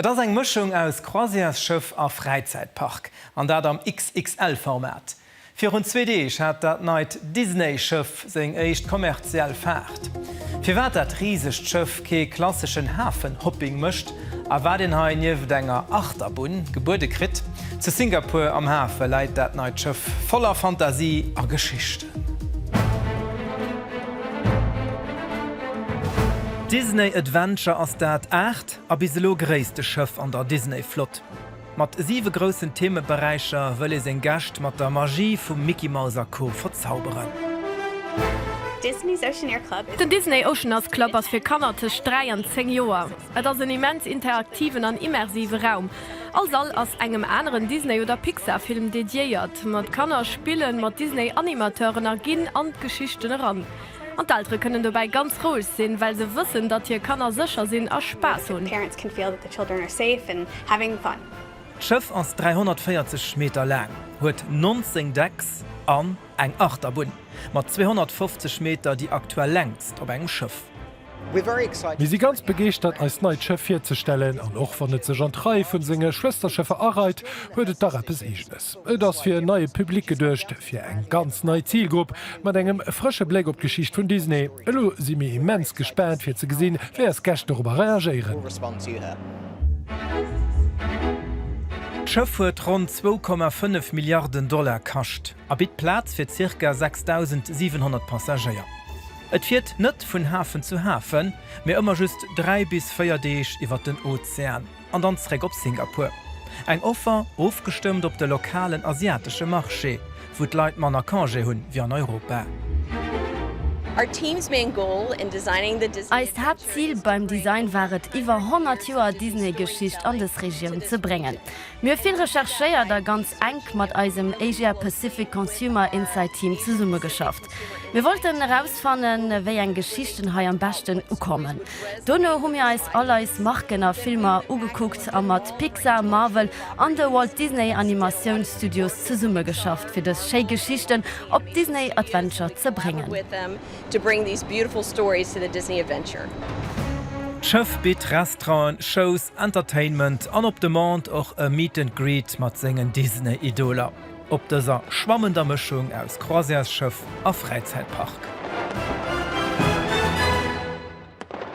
Et ass eng Mëschung aus Croisièresschëff a Fräizäitpark, an dat am XXL-Format. Virun zwee Deeg hat dat neit Disney-Schëff seng éischt kommerziell Faart. Firwat dat risegt Schëff kee klasseschen Hafen-Hopping mécht a wat een hei nieft enger Achterbunn gebuede kritt, Zu Singapur am Hafe läit dat neit Schëff voller Fantasie a Geschichten. Disney Adventure ass dat aacht. A bis elo gréisste Schëff an der Disney-Flott. Mat siwe groussen Themeberäicher wëll ee seng Gäscht mat der Magie vum Mickey Mouse a Co. Verzauberen. Den Disney Oceaners Club ass fir Kanner tëscht 3 an 10 Joer. Et ass en immens interaktiven an immersive Raum. All Sall ass engem aneren Disney oder Pixar Film dediéiert. Mat Kanner spillen mat Disney Animateuren a ginn an d'Geschichten eran. An d'Eltere kënnen dobäi ganz roueg sinn, well se wëssen, datt hir Kanner sécher sinn a Spaass hunn. D'Schëff ass 340 Meter laang, huet 19 Decks an eng Achterbunn mat 250 Meter, déi aktuell längst op engem Schëff. Mir si ganz begeeschtert eist neit Schëff virzestellen, an och wann et sech an d'Rei vun senge Schwësterschëffer areit, huet et dach eppes eegenes. Et ass fir en neie Public geduecht, fir eng ganz nei Zilgrupp, mat engem frësche Bléck op d'Geschicht vun Disney. Elo si mir immens gespaant fir ze gesinn, wéi eis Gäscht dorobber reagéieren. D'Schëff huet ronn 2,5 Milliarden Dollar kascht. a bitt Plaz fir zirka 6.700 Passagéier. Et fiert net vun Hafen zu Hafen, mee ëmmer just 3 bis 4 Deeg iwwert den Ozean an dann zréck op Singapur. Eng Offer ofgestëmmt op de lokalen asiatesche Marché, wou d'Leit manner Congé hu wéi an Europa. Eist Haaptzil beim Design war et, iwwer 100 Joer Disney-Geschicht an dës Regioun ze bréngen. Mir hu vill recherchéiert a ganz enk mat eisem Asia Pacific Consumer Insight Team zesummegeschafft. Mir wollten erausfannen, wéi eng Geschichten hei am beschten ukommen. Dono hu mir eis all eis Marken a Filmer ugekuckt a mat Pixar, Marvel an de Walt Disney Animatioun Studios zesummegeschafft, fir dës schéi Geschichten op d'Disney Adventure ze bréngen. D'Schëff bitt Restauranten, Shows, Entertainment an op Demande och e Meet and Greet mat sengen Disney-Idoler op dëser schwammender Mëschung aus Croisièresschëff a Fräizäitpark.